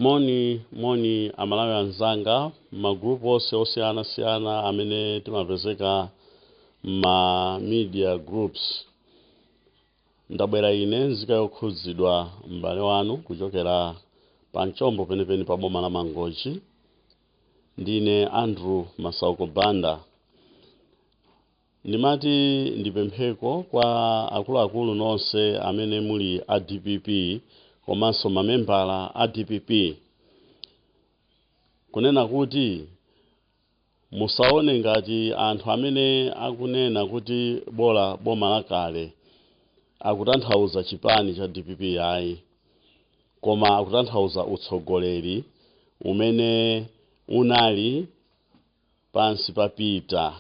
moni moni aMalawi anzanga magrupu onse osiyanasiyana amene timapezeka ma media groups ndabwera ine nzika yokhudzidwa m'bale wanu kuchokera pa mchombo penipeni pa boma la Mangochi ndine Andrew Masauko Banda Ndimati ndipempheko kwa akuluakulu nonse amene muli a DPP komanso mamembala a DPP kunena kuti musaone ngati anthu amene akunena kuti bola boma la kale akutanthauza chipani cha DPP ayi koma akutanthauza utsogoleri umene unali pansi pa Peter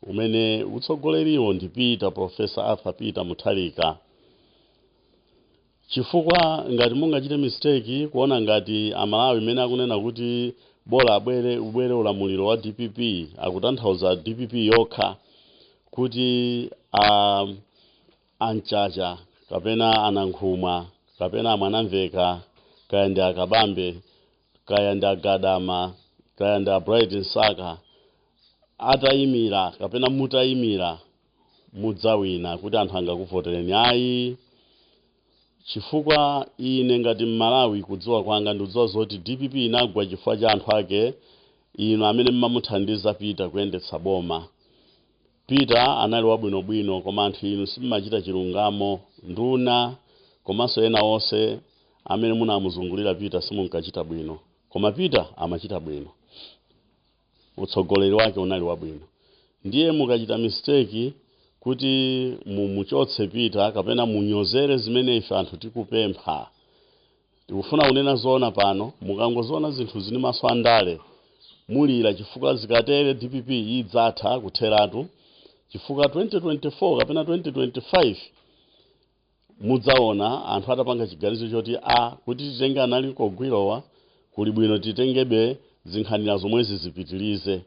umene utsogoleriwo ndi Peter Professor Arthur Peter Mutharika chifukwa ngati mungachite mistake kuona ngati aMalawi amene akunena kuti bola abwere ubwere ulamuliro wa DPP akutanthauza DPP yokha kuti a Mchacha kapena a Nankhumwa kapena a Mwanamvekha kaya ndi a Kabambe kaya ndi a Gadama kaya ndi a Bright Msaka atayimira kapena mutayimira mudzawina kuti anthu angakuvotereni ayi chifukwa ine ngati Mmalawi kudziwa kwanga ndikudziwa zoti DPP inagwa chifukwa cha anthu ake inu amene mmamuthandiza Peter kuyendetsa boma Peter anali wabwinobwino koma anthu inu simmachita chilungamo, nduna komanso ena onse amene munamuzungulira Peter simunkachita bwino koma Peter amachita bwino utsogoleri wake unali wabwino ndiye mukachita mistake kuti mumuchotse Peter kapena munyozere zimene ife anthu tikupempha Tikufuna kunena zoona pano, mukangoziona zinthuzi ndi maso andale mulira chifukwa zikatere DPP idzatha kutheratu chifukwa 2024 kapena 2025 mudzaona anthu atapanga chiganizo choti a kuti titenge analikogwirowa kuli bwino titengebe zinkhanira zomwezi zipitilize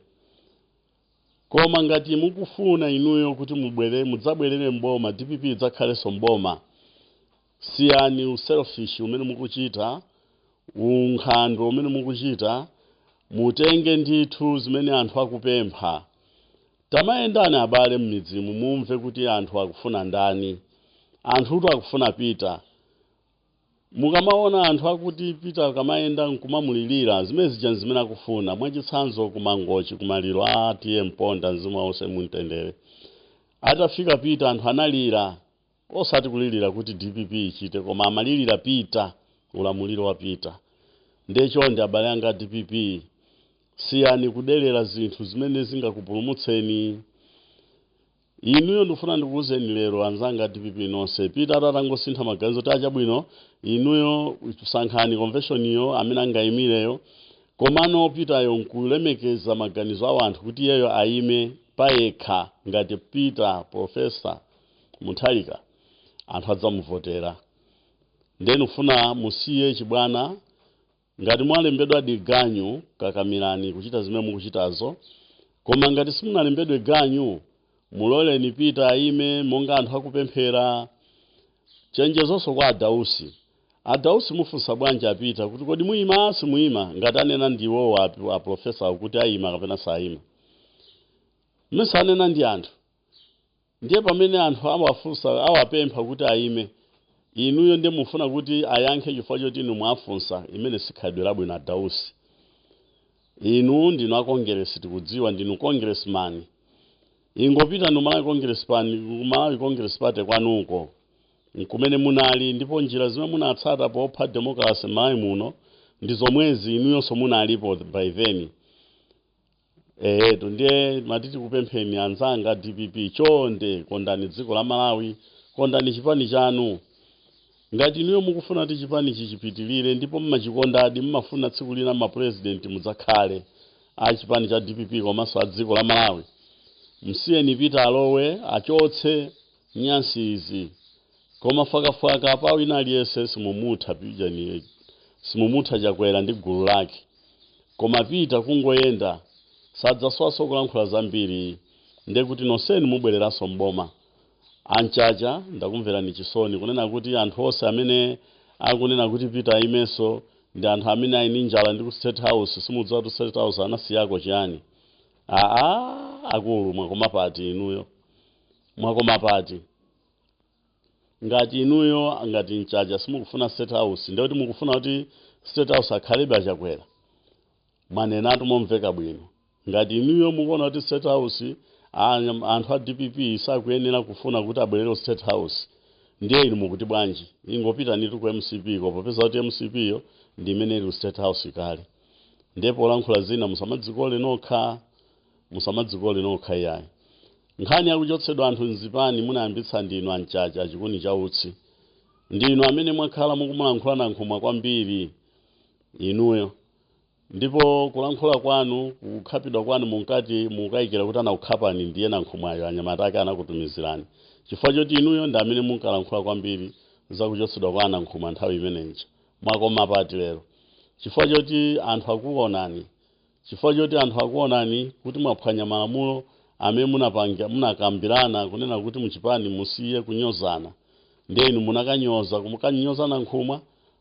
Koma ngati mukufuna inuyo kuti mubwere mudzabwerere m'boma DPP idzakhalenso m'boma siyani uselfish umene mukuchita, unkhandwe umene mukuchita mutenge ndithu zimene anthu akupempha. Tamayendani abale m'midzimu mumve kuti anthu akufuna ndani. Anthutu akufuna Peter. Mukamaona anthu akuti Peter akamayenda nkumamulilira, zimene zija nzimene akufuna. Mwachitsanzo ku Mangochi ku maliro a TA Mponda mzimu wawo use mumtendere. Atafika Peter anthu analira osati kulilira kuti dpp ichite koma amalilira Peter, ulamuliro wa Peter. Ndiye chonde abale anga a dpp siyani kudelera zinthu zimene zingakupulumutseni. Inuyo ndikufuna ndikuuzeni lero anzanga a dpp nonse Peter atangosintha maganizo kuti achabwino inuyo sankhani conventionyo amene angaimireyo komano Peter yo nkulemekeza maganizo a wanthu kuti iyeyo aime payekha ngati Peter Professor Mutharika anthu adzamuvotera nde ndikufuna musiye chibwana Ngati mwalembedwadi ganyu, kakamirani kuchita zimene mukuchitazo. Koma ngati simunalembedwe ganyu, muloleni Peter aime monga anthu akupemphera. Chenjezonso kwa a Dausi. A Dausi mufunsa bwanji a Peter kuti kodi muima, simuima ngati anena ndi iwowo a, a professor kuti aima kapena saima? Mesa anena ndi anthu. Ndiye pamene anthu awafunsa, awapempha kuti ayime, inuyo ndiye mufuna kuti ayankhe chifukwa choti inu mwafunsa, limene si khalidwe labwino a Dausi. Inu ndinu a Kongeresi tikudziwa, ndinu Congressman. Ingopitani ku Malawi Congress Pan, ku Malawi Congress Party kwanuko, nkumene munali, ndipo njira zimene munatsata popha demokalase m'Malawi muno ndi zomwezi, inuyonso munalipo by then. ehetu ndiye timati tikupempheni anzanga dpp chonde kondani dziko la malawi kondani chipani chanu ngati inuyo mukufuna kuti chipani chichipitirire ndipo mmachikondadi mmafuna tsiku lina mapurezidenti mudzakhale a chipani cha dpp komanso a dziko la malawi msiyeni pita alowe achotse nyansi izi Koma fwakafwaka apa wina aliyese simumutha pijani simumutha chakwera ndi gulu lake koma pita kungoyenda sadzaswaso kulankhula zambiri ndekuti noseni mubwereraso mboma a mchacha ndakumverani chisoni kunena kuti anthu ose amene akunena kuti pita ayimeso ndi anthu amene ali ndi njala ndi ku state house simudziwa kuti state house anasiyako chiyani aa akulu mwakoma pati inuyo mwakoma pati ngati inuyo ngati mchacha simukufuna state house ndekuti mukufuna kuti state house akhalebe achakwera mwanenatu momveka bwino ngati inuyo mukuona kuti state house anyam- anthu a dpp sakuyenera kufuna kuti abwerere ku state house ndiye inu mukuti bwanji ingopitanitu ku mcp ko popeza kuti mcp yo ndi imene ili ku state house kale ndipo polankhula zina musamadzikole nokha musamadzikole nokha iyayi nkhani yakuchotsedwa anthu mzipani munayambitsa ndinu amchacha achikuni cha utsi ndinu amene mwakhala mukumulankhula nankhumwa kwambiri inuyo ndipo kulankhula kwanu kukhapidwa kwanu munkati mukayikira kuti anakukhapani ndiye nankhumwayo anyamata ake anakutumizirani chifukwa choti inuyo ndi amene munkalankhula kwambiri zakuchotsedwa kwa anankhumwa nthawi imeneyo mwakoma pati lero chifukwa choti anthu akukuonani Chifukwa choti anthu akuonani kuti mwaphwanya malamulo amene munapanga, munakambirana kunena kuti muchipani musiye kunyozana ndiye inu munakanyoza kumukanyoza Nankhumwa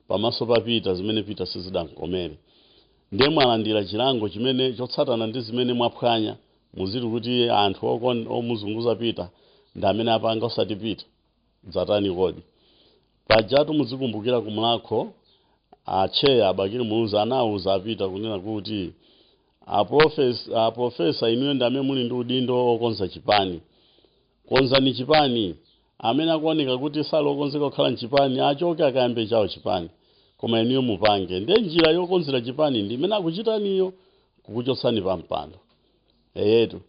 pamaso pa Peter zimene Peter sizidamkomere ndiye mwalandira chilango chimene chotsatana ndi zimene mwaphwanya muziti kuti anthu okon, omuzunguza Peter ndi amene apanga osati Peter. Zatani kodi? Pajatu muzikumbukira ku Mulhako a Chair Bakili Muluzi anawuza a Peter kunena kuti a profes- a professor inuyo ndi amene muli ndi udindo okonza chipani. Konzani chipani. Amene akuoneka kuti sali okonzeka kukhala m'chipani achoke akayambe chawo chipani. Koma inuyo mupange. Ndiye njira yokonzera chipani ndi imene akuchitaniyo kukuchotsani pa mpando. Eyetu.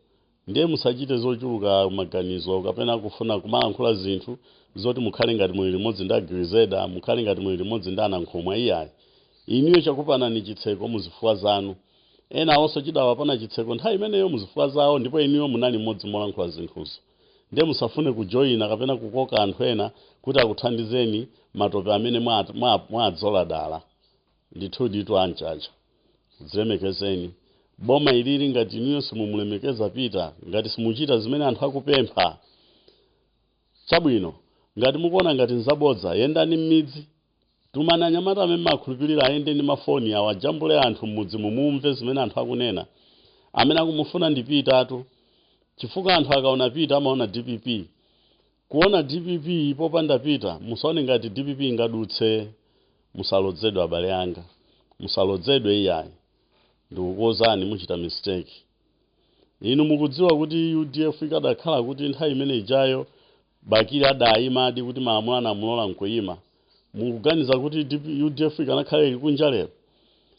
Ndiye musachite zochuluka maganizo kapena kufuna kumalankhula zinthu zoti mukhale ngati muli limodzi ndi Agrezelder, mukhale ngati muli limodzi ndi Anankhumwa iyayi. Inuyo chakupanani chitseko muzifukwa zanu. Enawonso chidawapana chitseko nthawi imeneyo muzifukwa zawo ndipo inuyo munali m'modzi wolankhula zinthuzo. Ndiye musafune kujoina kapena kukoka anthu ena kuti akuthandizeni matope amene mwa mwa mwaadzola dala. Ndithuditu a Mchacha dzilemekezeni boma ilili ngati inuyo simumulemekeza Peter ngati simuchita zimene anthu akupempha chabwino ngati mukuona ngati nzabodza yendani mmidzi tumani anyamata amene mumakhulupirira ayende ndi mafoni awo ajambule anthu mmudzimu mumve zimene anthu akunena amene akumufuna ndi Petertu chifukwa anthu akaona Peter amaona dpp Kuona dpp popanda peter musaone ngati dpp ingadutse musalozedwe abale anga musalodzedwe iyayi ndikukuuzani muchita mistake inu mukudziwa kuti udf ikadakhala kuti nthawi imeneijayo bakili adayimadi kuti malamulo anamulola nkuyima mukuganiza kuti DP udf ikanakhala ili kunja lero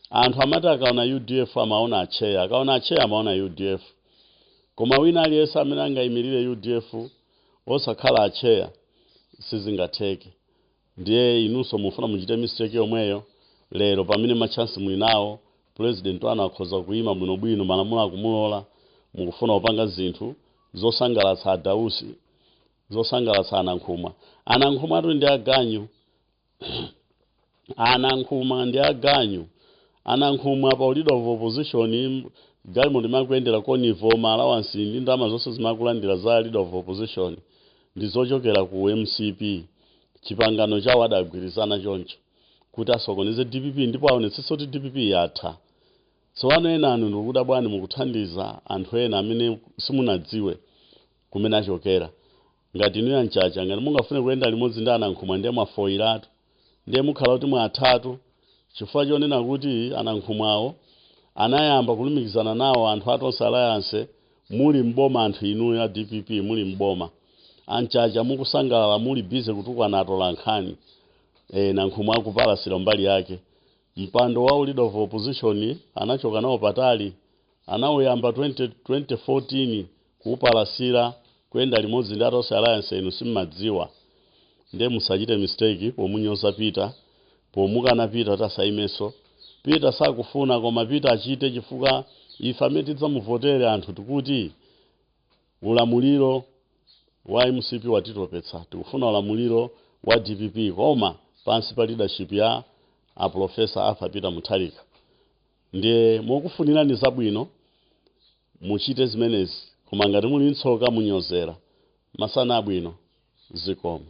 anthu amati akaona udf amaona atcheya akaona atcheya amaona udf koma wina aliyense amene angayimirire udf osakhala atcheya sizingatheke ndiye inunso mufuna muchite mistake yomweyo lero pamene matchansi muli nawo president wanu akhoza kuima bwinobwino malamulo akumulola mukufuna kupanga zinthu zosangalatsa adausi zosangalatsa anankhumwa anankhumwatu ndi aganyu a nankhumwa ndi aganyu a nankhumwa pa leader of opposition galimoto imene akuyendera konvoi ma allowance ndi ndalama zonse zimene akulandira za leader of opposition ndi zochokera ku mcp chipangano chawo adagwirizana choncho kuti asokoneze dpp ndipo aonetsetse kuti dpp yatha tsopano enanu ndikudabwani mukuthandiza anthu ena amene simunadziwe kumene achokera ngati inuyo a nchacha ngati mungafune kuyenda limodzi ndi a nankhumwa ndiye mwafoyiratu ndiye mukhala kuti mwathatu chifukwa chonena kuti a nankhumwawo anayamba kulumikizana nawo anthu a tonse alliance muli mboma anthu inuyo a dpp muli mboma a nchacha mukusangalala muli busy kutukwana atolankhani e, nankhumwa akupalasira mbali yake mpando wa leader of opposition anachoka nawo patali anauyamba 20, 2014 kupalasira kuyenda limodzi ndi a tonse alliance inu simmadziwa nde musachite mistake pomunyoza peter pomukana peter tasaimeso peter sakufuna koma peter achite chifukwa ife amene tidzamuvotere anthu tikuti ulamuliro wa mcp watitopetsa tikufuna ulamuliro wa dpp koma pansi pa leadership ya a professor arthur peter mutharika ndiye mokufunirani zabwino muchite zimenezi koma ngati muli ntsoka munyozera masana abwino zikomo